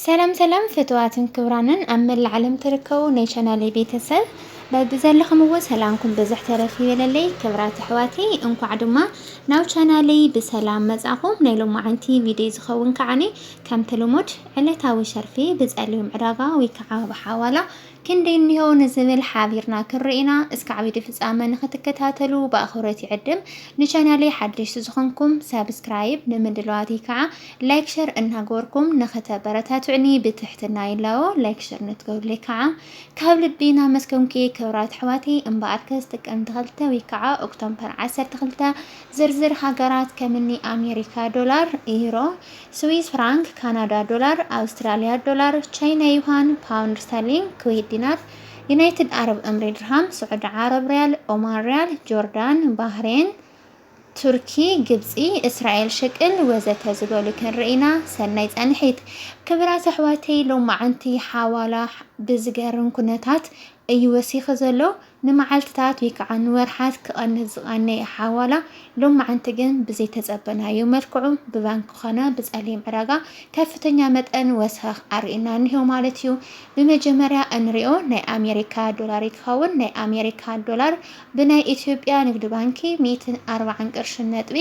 ሰላም ሰላም ፍትዋትን ክብራንን ኣብ መላእ ዓለም ትርከቡ ናይ ቻናለይ ቤተሰብ በብዘለኹምዎ ሰላምኩም ብዝሕ ተረፍ ይበለለይ። ክብራት ኣሕዋቲ እንኳዕ ድማ ናብ ቻናለይ ብሰላም መጻኹም። ናይ ሎማዓንቲ ቪድዮ ዝኸውን ከዓኒ ከምቲ ልሙድ ዕለታዊ ሸርፊ ብጸሊም ዕዳጋ ወይ ከዓ ብሓዋላ ክንደይ እኒሆ ንዝብል ሓቢርና ክንርኢ ኢና። እስካዕ ቪድዮ ፍፃመ ንክትከታተሉ ብኣኽብሮት ይዕድም። ንቻናለይ ሓደሽቲ ዝኾንኩም ሳብስክራይብ፣ ንምድለዋተይ ከዓ ላይክ ሸር እናገበርኩም ንክተበረታትዑኒ ብትሕትና ይላቦ። ላይክ ሸር ንትገብሩለይ ከዓ ካብ ልቢ እናመስገንኩ ክብራት ኣሕዋተይ እምበኣርከስ ጥቅምቲ ክልተ ወይ ከዓ ኦክቶምፐር ዓሰርተ ክልተ ዝርዝር ሃገራት ከምኒ ኣሜሪካ ዶላር፣ ኢሮ፣ ስዊዝ ፍራንክ፣ ካናዳ ዶላር፣ ኣውስትራሊያ ዶላር፣ ቻይና ዩሃን፣ ፓውንድ ስተርሊንግ፣ ኩዌት ዲናር፣ ዩናይትድ ዓረብ እምሬ ድርሃም፣ ስዑዲ ዓረብ ሪያል፣ ኦማን ሪያል፣ ጆርዳን፣ ባህሬን፣ ቱርኪ፣ ግብጺ፣ እስራኤል ሽቅል ወዘተ ዝበሉ ክንርኢ ኢና። ሰናይ ጻንሒት። ክብራት ኣሕዋተይ ሎምዓንቲ ሓዋላ ብዝገርም ኩነታት እዩ ወሲኺ ዘሎ። ንመዓልትታት ወይ ከዓ ንወርሓት ክቐንስ ዝቐነየ ሓዋላ ሎማዕንቲ ግን ብዘይተፀበናዮ መልክዑ ብባንኪ ኮነ ብፀሊም ዕዳጋ ከፍተኛ መጠን ወሰኽ ኣርእዩና እኒሆ ማለት እዩ። ብመጀመርያ እንሪኦ ናይ ኣሜሪካ ዶላር ይትኸውን። ናይ ኣሜሪካ ዶላር ብናይ ኢትዮጵያ ንግድ ባንኪ ሚእትን ኣርባዓን ቅርሽን ነጥቢ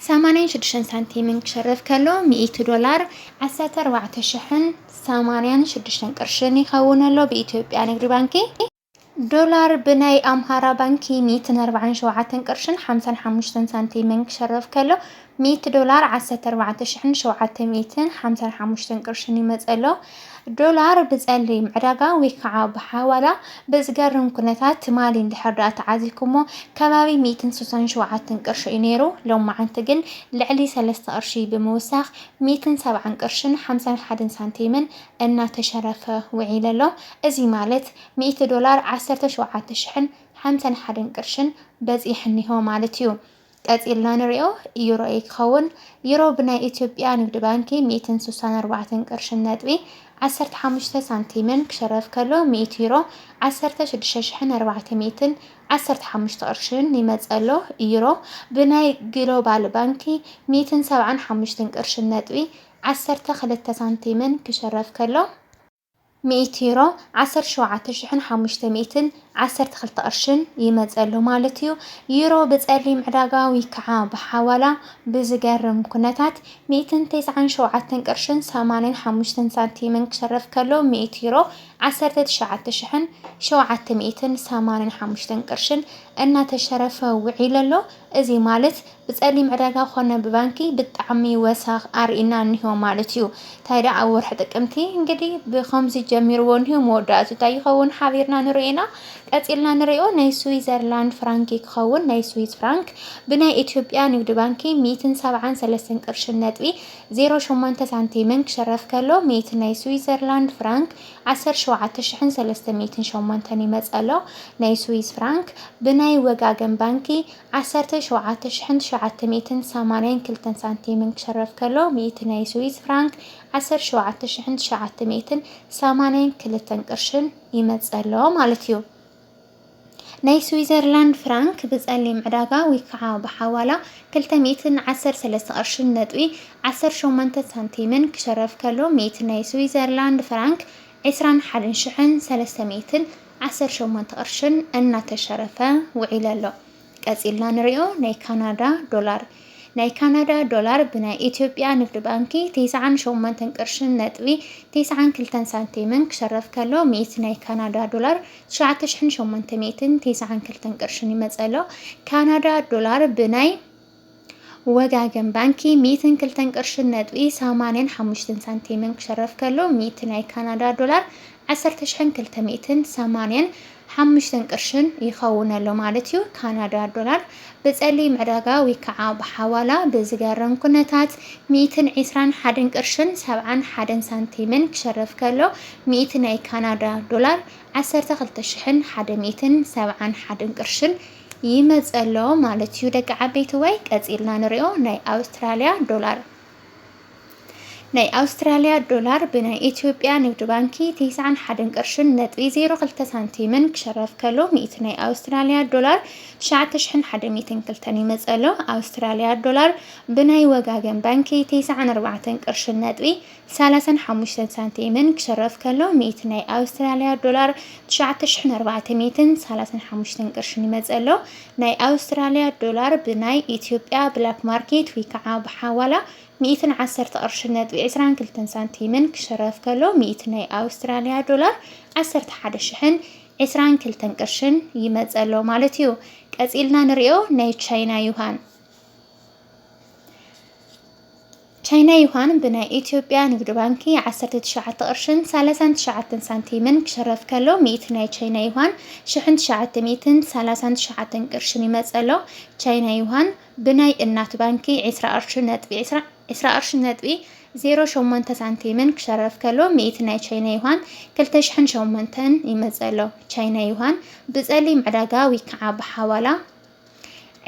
ሰማንያን ሽዱሽተን ሳንቲምን ክሽርፍ ከሎ ሚእቲ ዶላር ዓሰርተ ኣርባዕተ ሽሕን ሰማንያን ሽዱሽተን ቅርሽን ይኸውን ኣሎ ብኢትዮጵያ ንግዲ ባንኪ። ዶላር ብናይ ኣምሃራ ባንኪ ሚእትን ኣርባዓን ሸውዓተን ቅርሽን ሓምሳን ሓሙሽተን ሳንቲምን ክሽርፍ ከሎ ሚእቲ ዶላር ዓሰርተ ኣርባዕተ ሽሕን ሸውዓተ ሚእትን ሓምሳን ሓሙሽተን ቅርሽን ይመጸ ኣሎ። ዶላር ብጸሊም ዕዳጋ ወይ ከዓ ብሓዋላ ብዝገርም ኩነታት ትማሊ እንድሕር ደኣ ተዓዚኩሞ ከባቢ ሚእትን ስሳን ሸውዓተን ቅርሺ እዩ ነይሩ ሎማዓንቲ ግን ልዕሊ ሰለስተ ቅርሺ ብምውሳኽ ሚእትን ሰብዓን ቅርሽን ሓምሳን ሓደን ሳንቲምን እናተሸረፈ ውዒለ ኣሎ እዚ ማለት ሚእቲ ዶላር ዓሰርተ ሸውዓተ ሽሕን ሓምሳን ሓደን ቅርሽን በጺሕኒሆ ማለት እዩ ቀጺልና ንሪኦ ኢዩ ሮኢ ክኸውን። ዩሮ ብናይ ኢትዮጵያ ንግድ ባንኪ ሚእትን ሱሳን ኣርባዕተን ቅርሽን ነጥቢ ዓሰርተ ሓሙሽተ ሳንቲምን ክሸረፍ ከሎ ሚእቲ ዩሮ ዓሰርተ ሽዱሽተ ሽሕን ኣርባዕተ ሚእትን ዓሰርተ ሓሙሽተ ቅርሽን ይመጽእ ኣሎ። ዩሮ ብናይ ግሎባል ባንኪ ሚእትን ሰብዓን ሓሙሽትን ቅርሽን ነጥቢ ዓሰርተ ክልተ ሳንቲምን ክሸረፍ ከሎ፣ ሚእቲ ዩሮ፣ ዓሰርተ ሸውዓተ ሽሕን ሓሙሽተ ሚእትን ዓሰርተ ክልተ ቅርሽን፣ ይመጸሉ ማለት እዩ። ዩሮ ብጸሊም ዕዳጋ ወይከዓ ብሓዋላ ብዝገርም ኩነታት ሚእትን ተስዓን ሸውዓተን ቅርሽን ሰማንያን ሓሙሽተን ሳንቲምን ክሸረፍ ከሎ ሚእቲ ዩሮ ዓሰርተ ትሽዓተ ሽሕን ሸውዓተ ሚእትን ሰማንያን ሓሙሽተን ቅርሽን እናተሸረፈ ውዒሉ ኣሎ። እዚ ማለት ብጸሊም ዕዳጋ ኮነ ብባንኪ ብጣዕሚ ወሰኽ ኣርኢና እኒሆ ማለት እዩ። ታይ ደኣ ኣብ ወርሒ ጥቅምቲ እንግዲ ብኸምዚ ጀሚርዎ እኒሆ መወዳእትኡ ታይ ይኸውን ሓቢርና ንሪኦ ኢና። ቀጺልና ንሪኦ ናይ ስዊዘርላንድ ፍራንክ እዩ ክኸውን ናይ ስዊዝ ፍራንክ ብናይ ኢትዮጵያ ንግዲ ባንኪ ሚእትን ሰብዓን ሰለስተን ቅርሽን ነጥቢ ዜሮ ሸሞንተ ሳንቲምን ክሽረፍ ከሎ ሚእቲ ናይ ስዊዘርላንድ ፍራንክ ዓሰርተ ሸውዓተ ሽሕን ሰለስተ ሚእትን ሸሞንተን ይመጸ ኣሎ። ናይ ስዊዝ ፍራንክ ብናይ ወጋገን ባንኪ ዓሰርተ ሸውዓተ ሽሕን ትሽዓተ ሚእትን ሰማንያን ክልተን ሳንቲምን ክሽረፍ ከሎ፣ ሚእቲ ናይ ስዊዝ ፍራንክ ዓሰርተ ሸውዓተ ሽሕን ትሽዓተ ሚእትን ሰማንያን ክልተን ቅርሽን ይመጽእ ኣሎ ማለት እዩ። ናይ ስዊዘርላንድ ፍራንክ ብጸሊም ዕዳጋ ወይ ከዓ ብሓዋላ ክልተ ሚእትን ዓሰርተ ሰለስተ ቅርሽን ነጥቢ ዓሰርተ ሸሞንተ ሳንቲምን ክሽረፍ ከሎ፣ ሚእቲ ናይ ስዊዘርላንድ ፍራንክ ዕስራን ሓደን ሽሕን ሰለስተ ሚእትን ዓሰርተ ሸሞንተ ቅርሽን እናተሸረፈ ውዒለ ኣሎ። ቀጺልና ንሪኦ ናይ ካናዳ ዶላር ናይ ካናዳ ዶላር ብናይ ኢትዮጵያ ንግድ ባንኪ ቴስዓን ሸሞንተን ቅርሽን ነጥቢ ቴስዓን ክልተን ሳንቲምን ክሸረፍ ከሎ ሚእቲ ናይ ካናዳ ዶላር ትሽዓተ ሽሕን ሸሞንተ ሚእትን ቴስዓን ክልተን ቅርሽን ይመጸ ኣሎ። ካናዳ ዶላር ብናይ ወጋገን ባንኪ ሚእትን ክልተን ቅርሽን ነጥቢ ሰማንያን ሓሙሽተን ሳንቲምን ክሸረፍ ከሎ ሚእቲ ናይ ካናዳ ዶላር ዓሰርተ ሽሕን ክልተ ሚእትን ሰማንያን ሓሙሽተን ቅርሽን ይኸውን ኣሎ ማለት እዩ። ካናዳ ዶላር ብጸሊም ዕዳጋ ወይ ከዓ ብሓዋላ ብዝገርም ኩነታት ሚእትን ዒስራን ሓደን ቅርሽን ሰብዓን ሓደን ሳንቲምን ክሸረፍ ከሎ ሚእቲ ናይ ካናዳ ዶላር ዓሰርተ ክልተ ሽሕን ሓደ ሚእትን ሰብዓን ሓደን ቅርሽን ይመጽእ ኣሎ ማለት እዩ ደቂ ዓበይትወይ ቀጺልና ንሪኦ ናይ ኣውስትራልያ ዶላር ናይ ኣውስትራልያ ዶላር ብናይ ኢትዮጵያ ንግድ ባንኪ ቴስዓን ሓደን ቅርሽን ነጥቢ ዜሮ ክልተ ሳንቲምን ክሸረፍ ከሎ ሚእቲ ናይ ኣውስትራልያ ዶላር ትሽዓተ ሽሕን ሓደ ሚእትን ክልተን ይመጸሎ ኣውስትራልያ ዶላር ብናይ ወጋገን ባንኪ ቴስዓን ኣርባዕተን ቅርሽን ነጥቢ ሰላሳን ሓሙሽተን ሳንቲምን ክሽረፍ ከሎ ሚእቲ ናይ ኣውስትራልያ ዶላር ትሽዓተ ሽሕን ኣርባዕተ ሚእትን ሰላሳን ሓሙሽተን ቅርሽን ይመጽእ ኣሎ። ናይ ኣውስትራልያ ዶላር ብናይ ኢትዮጵያ ብላክ ማርኬት ወይ ከዓ ብሓዋላ ሚእትን ዓሰርተ ቅርሽን ነጥቢ ዕስራን ክልተን ሳንቲምን ክሽረፍ ከሎ ሚእቲ ናይ ኣውስትራልያ ዶላር ዓሰርተ ሓደ ሽሕን ዕስራን ክልተን ቅርሽን ይመጽእ ኣሎ ማለት እዩ። ቀጺልና ንሪኦ ናይ ቻይና ዩሃን ቻይና ዩሃን ብናይ ኢትዮጵያ ንግድ ባንኪ ዓሰርተ ትሽዓተ ቅርሽን ሰላሳን ትሽዓተን ሳንቲምን ክሽረፍ ከሎ ሚእቲ ናይ ቻይና ዩሃን ሽሕን ትሽዓተ ሚእትን ሰላሳን ትሽዓተን ቅርሽን ይመጸሎ ቻይና ዩሃን ብናይ እናት ባንኪ ዕስራ ቅርሽን ነጥቢ ዕስራ ቅርሽን ነጥቢ ዜሮ ሸሞንተ ሳንቲምን ክሸረፍ ከሎ ሚእቲ ናይ ቻይና ዩሃን ክልተ ሽሕን ሸሞንተን ይመጸሎ ቻይና ዩሃን ብጸሊም ዕዳጋ ዊክዓ ብሓዋላ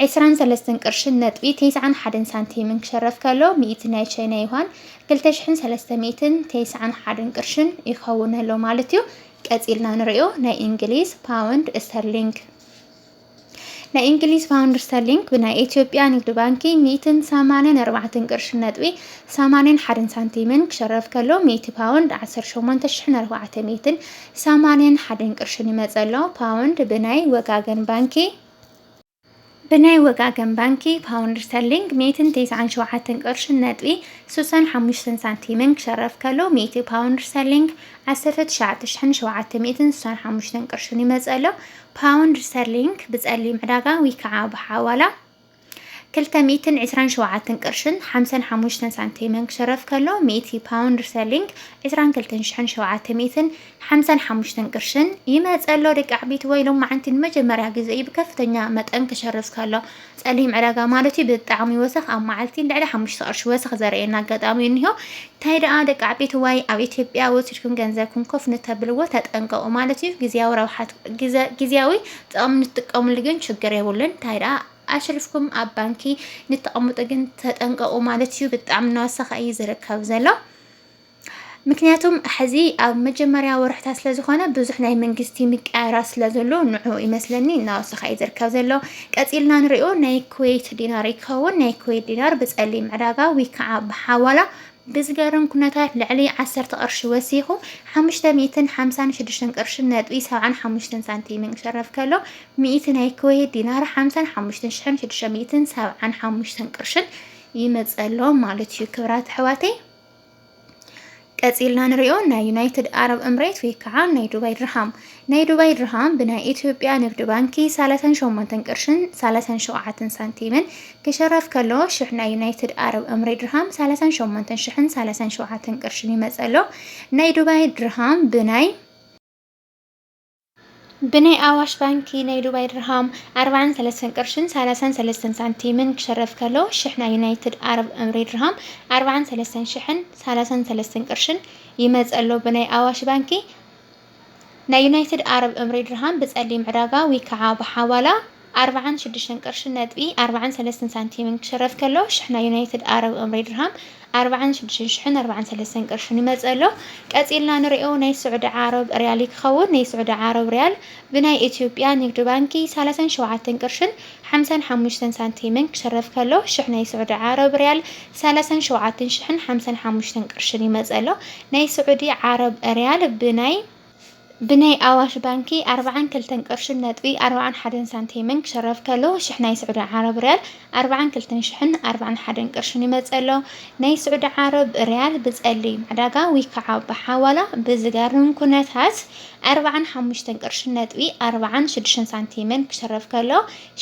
ዕስራን ሰለስተን ቅርሽን ነጥቢ ተስዓን ሓደን ሳንቲምን ክሸረፍ ከሎ ሚእቲ ናይ ቻይና ዩሃን ክልተ ሽሕን ሰለስተ ሚእትን ተስዓን ሓደን ቅርሽን ይኸውን ኣሎ ማለት እዩ። ቀጺልና ንሪኦ ናይ እንግሊዝ ፓውንድ ስተርሊንግ ናይ እንግሊዝ ፓውንድ ስተርሊንግ ብናይ ኢትዮጵያ ንግዲ ባንኪ ሚእትን ሰማንን ኣርባዕትን ቅርሺ ነጥቢ ሰማንን ሓደን ሳንቲምን ክሸረፍ ከሎ ሚእቲ ፓውንድ ዓሰርተ ሸሞንተ ሽሕን ኣርባዕተ ሚእትን ሰማንን ሓደን ቅርሽን ይመጸ ኣሎ ፓውንድ ብናይ ወጋገን ባንኪ ብናይ ወጋገን ባንኪ ፓውንድ ስተርሊንግ ሚእትን ቴስዓን ሸውዓተን ቅርሽን ነጥቢ ስሳን ሓሙሽተን ሳንቲምን ክሸረፍ ከሎ ሚእቲ ፓውንድ ስተርሊንግ ዓሰርተ ትሽዓተ ሽሕን ሸውዓተ ሚእትን ስሳን ሓሙሽተን ቅርሽን ይመጸሎ ፓውንድ ስተርሊንግ ብጸሊም ዕዳጋ ዊከዓ ብሓዋላ ክልተ ሚእትን ዕስራን ሸውዓተን ቅርሽን ሓምሳን ሓሙሽተን ሳንቲምን ክሽረፍ ከሎ ሚእቲ ፓውንድ ስተርሊንግ ዕስራን ክልተን ሽሕን ሸውዓተ ሚእትን ሓምሳን ሓሙሽተን ቅርሽን ይመጸሎ ደቂ ዓቢት ወይ ሎም መዓንቲ ንመጀመርያ ግዜ እዩ ብከፍተኛ መጠን ክሸርፍ ከሎ ጸሊም ዕዳጋ ማለት እዩ ብጣዕሚ ወሰኽ ኣብ መዓልቲ ልዕሊ ሓሙሽተ ቅርሺ ወሰኽ ዘርእየና ኣጋጣሚ እዩ እንሆ እንታይ ደኣ ደቂ ዓቢት ወይ ኣብ ኢትዮጵያ ወሲድኩም ገንዘብኩም ኮፍ ንተብልዎ ተጠንቀቑ ማለት እዩ ግዜያዊ ረብሓት ግዜያዊ ጥቕሚ ንትጥቀምሉ ግን ችግር የብሉን። እንታይ ደኣ ኣሽሪፍኩም ኣብ ባንኪ ንተቐምጡ ግን ተጠንቀቑ ማለት እዩ። ብጣዕሚ እናወሰኸ እዩ ዝርከብ ዘሎ። ምክንያቱም ሕዚ ኣብ መጀመርያ ወርሕታት ስለ ዝኾነ ብዙሕ ናይ መንግስቲ ምቀያራ ስለ ዘሎ ንዑ ይመስለኒ እናወሰኸ እዩ ዝርከብ ዘሎ ቀፂልና ንሪኦ ናይ ኩዌት ዲናር ይከውን ናይ ኩዌት ዲናር ብፀሊም ዕዳጋ ወይ ከዓ ብሓዋላ ብዝገርም ኩነታት ልዕሊ ዓሰርተ ቅርሺ ወሲኹ ሓሙሽተ ሚእትን ሓምሳን ሽዱሽተን ቅርሽን ነጥቢ ሰብዓን ሓሙሽተን ሳንቲምን ክሸረፍ ከሎ ሚእቲ ናይ ኩዌት ዲናር ሓምሳን ሓሙሽተን ሽሕን ሽዱሽተ ሚእትን ሰብዓን ሓሙሽተን ቅርሽን ይመጸሎ ማለት እዩ ክብራት ኣሕዋተይ ቀጺልና ንሪኦ ናይ ዩናይትድ ኣረብ እምሬት ወይ ከዓ ናይ ዱባይ ድርሃም ናይ ዱባይ ድርሃም ብናይ ኢትዮጵያ ንግድ ባንኪ ሳላሳን ሸሞንተን ቅርሽን ሳላሳን ሸውዓትን ሳንቲምን ክሸረፍ ከሎ ሽሕ ናይ ዩናይትድ ኣረብ እምሬ ድርሃም ሳላሳን ሸሞንተን ሽሕን ሳላሳን ሸውዓተን ቅርሽን ይመጽእ ኣሎ። ናይ ዱባይ ድርሃም ብናይ ብናይ ኣዋሽ ባንኪ ናይ ዱባይ ድርሃም ኣርባዓን ሰለስተን ቅርሽን ሳላሳን ሰለስተን ሳንቲምን ክሸረፍ ከሎ ሽሕ ናይ ዩናይትድ ኣረብ እምሬ ድርሃም ኣርባዓን ሰለስተን ሽሕን ሳላሳን ሰለስተን ቅርሽን ይመጽእ ኣሎ። ብናይ ኣዋሽ ባንኪ ናይ ዩናይትድ ኣረብ እምሪ ድርሃም ብጸሊም ዕዳጋ ዊከዓ ብሓዋላ ኣርብዓን ሽዱሽተን ቅርሺ ነጥቢ ኣርብዓን ሰለስተን ሳንቲምን ክሽረፍ ከሎ ሽሕ ናይ ዩናይትድ ኣረብ እምሪ ድርሃም ኣርብዓን ሽዱሽተን ሽሕን ኣርብዓን ሰለስተን ቅርሽን ይመጽእ ኣሎ። ቀጺልና ንርእዮ ናይ ስዑዲ ዓረብ ርያል ይክኸውን። ናይ ስዑዲ ዓረብ ርያል ብናይ ኢትዮጵያ ንግድ ባንኪ ሰላሳን ሸውዓተን ቅርሽን ሓምሳን ሓሙሽተን ሳንቲምን ክሽረፍ ከሎ፣ ሽሕ ናይ ስዑዲ ዓረብ ርያል ሰላሳን ሸውዓትን ሽሕን ሓምሳን ሓሙሽተን ቅርሽን ይመጽእ ኣሎ። ናይ ስዑዲ ዓረብ ርያል ብናይ ብናይ ኣዋሽ ባንኪ ኣርብዓን ክልተን ቅርሽን ነጥቢ ኣርብዓን ሓደን ሳንቲምን ክሽረፍ ከሎ፣ ሽሕ ናይ ስዑዲ ዓረብ ርያል ኣርብዓን ክልተን ሽሕን ኣርብዓን ሓደን ቅርሽን ይመጽእ ኣሎ። ናይ ስዑዲ ዓረብ ርያል ብጸሊም ዕዳጋ ውይከዓ ብሓዋላ ብዝገርም ኩነታት ኣርብዓን ሓሙሽተን ቅርሽን ነጥቢ ኣርብዓን ሽዱሽተን ሳንቲምን ክሽረፍ ከሎ፣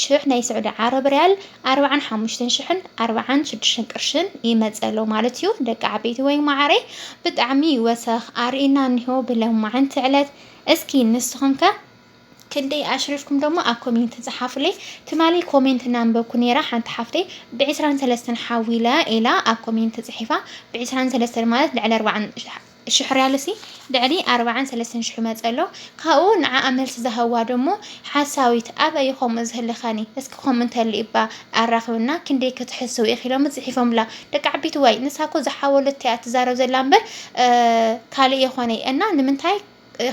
ሽሕ ናይ ስዑዲ ዓረብ ርያል ኣርብዓን ሓሙሽተን ሽሕን ኣርብዓን ሽዱሽተን ቅርሽን ይመጽእ ኣሎ ማለት እዩ። ደቂ ዓበይቲ ወይ ማዓረይ ብጣዕሚ ወሰኽ ኣርእዩና እኒሆ ብለማዓንቲ ዕለት እስኪ ንስኹም ከ ክንደይ ኣሽሪፍኩም ደሞ ኣብ ኮሜንት ጸሓፉለይ ትማሊ ኮሜንት እናንበብኩ ነይረ ሓንቲ ሓፍተይ ብዕስራን ሰለስተን ሓዊለ ኢላ ኣብ ኮሜንት ጽሒፋ ብዕስራን ሰለስተን ማለት ልዕሊ ኣርባዓን ሽሕ ርያልሲ ልዕሊ ኣርባዓን ሰለስተን ሽሕ መጸ ኣሎ ካብኡ ንዓኣ መልሲ ዝሃብዋ ደሞ ሓሳዊት ኣበ እዩ ከምኡ ዝህልኸኒ እስኪ ከምኡ እንተሊ እባ ኣራኽብና ክንደይ ክትሕስው ኢኺ ኢሎምስ ጽሒፎምላ ደቂ ዓቢት ዋይ ንሳ እኮ ዝሓወለቶ እያ ትዛረብ ዘላ እምበር ካልእ የኾነይ እና ንምንታይ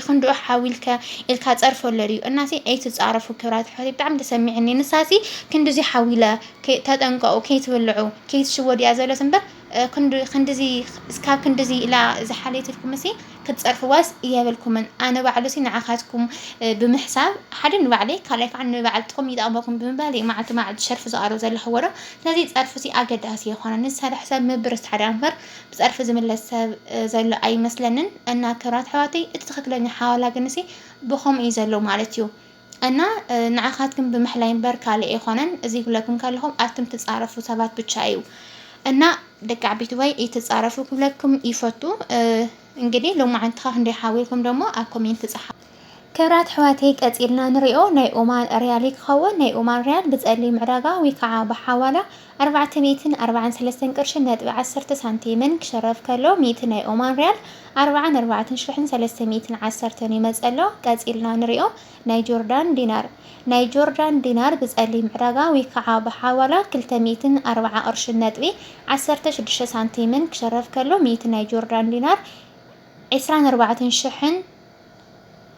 ክንድኡ ሓዊልከ ኢልካ ጸርፎ ኣለልዩ እናሲ ኣይትጻረፉ ክብራት ኣሕዋት ብጣዕሚ ተሰሚዕኒ ንሳሲ ክንድዚ ሓዊለ ተጠንቀቑ ከይትብልዑ ከይትሽወዱ እያ ዘሎት እምበር ክንዱ ክንድዚ እስካብ ክንድዚ ኢላ ዝሓለየትልኩምሲ ክትጸርፍዋስ የብልኩምን ኣነ ባዕሉሲ ንዓኻትኩም ብምሕሳብ ሓደ ንባዕለይ ካልኣይ ከዓ ንበዓል ጥቕሚ ይጠቕመኩም ብምባል እዩ መዓልቲ መዓልቲ ሸርፊ ዝቐርብ ዘለኹ ወረ ስለዚ ጸርፍሲ ኣገዳሲ የኾነ ንዝሰርሕ ሰብ ምብርስ ታዲያ እምበር ብጸርፊ ዝምለስ ሰብ ዘሎ ኣይመስለንን እና ክብራት ኣሕዋተይ እቲ ትኽክለኛ ሓዋላ ግንሲ ብኸምኡ እዩ ዘሎ ማለት እዩ እና ንዓካትክም ብምሕላይ እምበር ካልእ ኣይኮነን እዚ ክብለክም ከለኩ ኣትክም ትጻረፉ ሰባት ብቻ እዩ እና ደቂ ዓቢትወይ እይትጻረፉ ክብለክም ይፈቱ እንግዲ ሎማዓንትካ ክንደይ ሓዊልኩም ደሞ ኣብ ኮሜንት ጻሓፉ። ክብራት ኣሕዋተይ ቀጺልና ንሪኦ ናይ ኦማን ርያሊ ክከውን ናይ ኦማን ርያል ብጸሊም ዕዳጋ ውይ ካዓ ብሓዋላ ኣርባዕተ ሚእትን ኣርባዓን ሰለስተን ቅርሽን ነጥቢ ዓሰርተ ሳንቲምን ክሽረፍ ከሎ ሚእቲ ናይ ኦማን ርያል ኣርባዓን ኣርባዕትን ሽሕን ሰለስተ ሚእትን ዓሰርተን ይመጸ ኣሎ። ቀጺልና ንሪኦ ናይ ጆርዳን ዲናር። ናይ ጆርዳን ዲናር ብጸሊም ዕዳጋ ዊከዓ ብሓዋላ ክልተ ሚእትን ኣርባዓ ቅርሽን ነጥቢ ዓሰርተ ሽዱሽተ ሳንቲምን ክሽረፍ ከሎ ሚእቲ ናይ ጆርዳን ዲናር ዕስራን ኣርባዕትን ሽሕን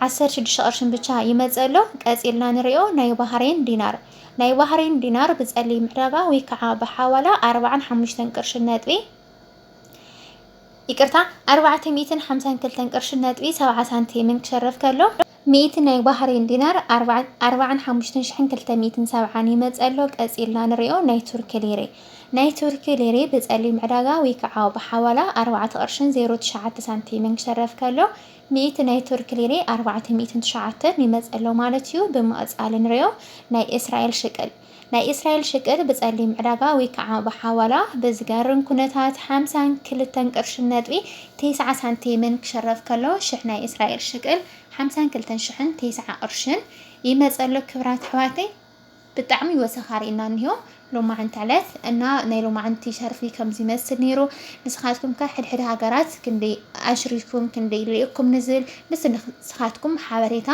ዓሰርተ ሽዱሽተ ቅርሽን ብቻ ይመጽእ ኣሎ። ቀጺልና ንሪኦ ናይ ባህሬን ዲናር። ናይ ባህሬን ዲናር ብጸሊም ዕዳጋ ወይ ከዓ ብሓዋላ ኣርባዓን ሓሙሽተን ቅርሽን ነጥቢ ይቅርታ ኣርባዕተ ሚእትን ሓምሳን ክልተን ቅርሽን ነጥቢ ሰብዓ ሳንቲምን ክሸርፍ ከሎ ሚእቲ ናይ ባህሬን ዲናር ኣርባዓን ሓሙሽተን ሽሕን ክልተ ሚእትን ሰብዓን ይመጽእ ኣሎ። ቀጺልና ንሪኦ ናይ ቱርኪ ሊሬ። ናይ ቱርኪ ሊሪ ብጸሊም ዕዳጋ ወይ ክዓ ብሓዋላ ኣርባዕተ ቅርሽን ዜሮ ትሽዓተ ሳንቲምን ክሸረፍ ከሎ ሚእቲ ናይ ቱርኪ ሊሪ ኣርባዕተ ሚእትን ትሽዓተን ይመጽእ ኣሎ ማለት እዩ ብምቅጻል ንሪኦ ናይ እስራኤል ሽቅል ናይ እስራኤል ሽቅል ብጸሊም ዕዳጋ ወይ ክዓ ብሓዋላ ብዝገርም ኩነታት ሓምሳን ክልተን ቅርሽን ነጥቢ ቴስዓ ሳንቲምን ክሸረፍ ከሎ ሽሕ ናይ እስራኤል ሽቅል ሓምሳን ክልተን ሽሕን ቴስዓ ቅርሽን ይመጽእ ኣሎ ክብራት ኣሕዋተይ ብጣዕሚ ወሰኻ ሪእና እንሆ ሎማዕንቲ ዕለት እና ናይ ሎማዕንቲ ሸርፊ ከምዚ ይመስል ነይሩ ንስኻትኩም ከ ሕድሕድ ሃገራት ክንደይ ኣሽሪፍኩም ክንደይ ልኢኩም ንዝብል ምስ ንስኻትኩም ሓበሬታ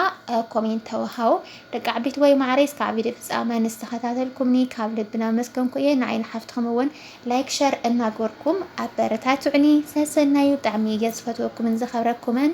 ኮሜንት ተወሃው ደቂ ዓቢት ወይ ማዕረይ እስካብ ቪድዮ ፍጻመ ንስተኸታተልኩምኒ ካብ ልብና መስገንኩ እየ ንዓይ ንሓፍትኹም እውን ላይክ ሸር እናገርኩም ኣበረታትዑኒ ሰሰናዩ ብጣዕሚ እየ ዝፈትወኩምን ዘኸብረኩምን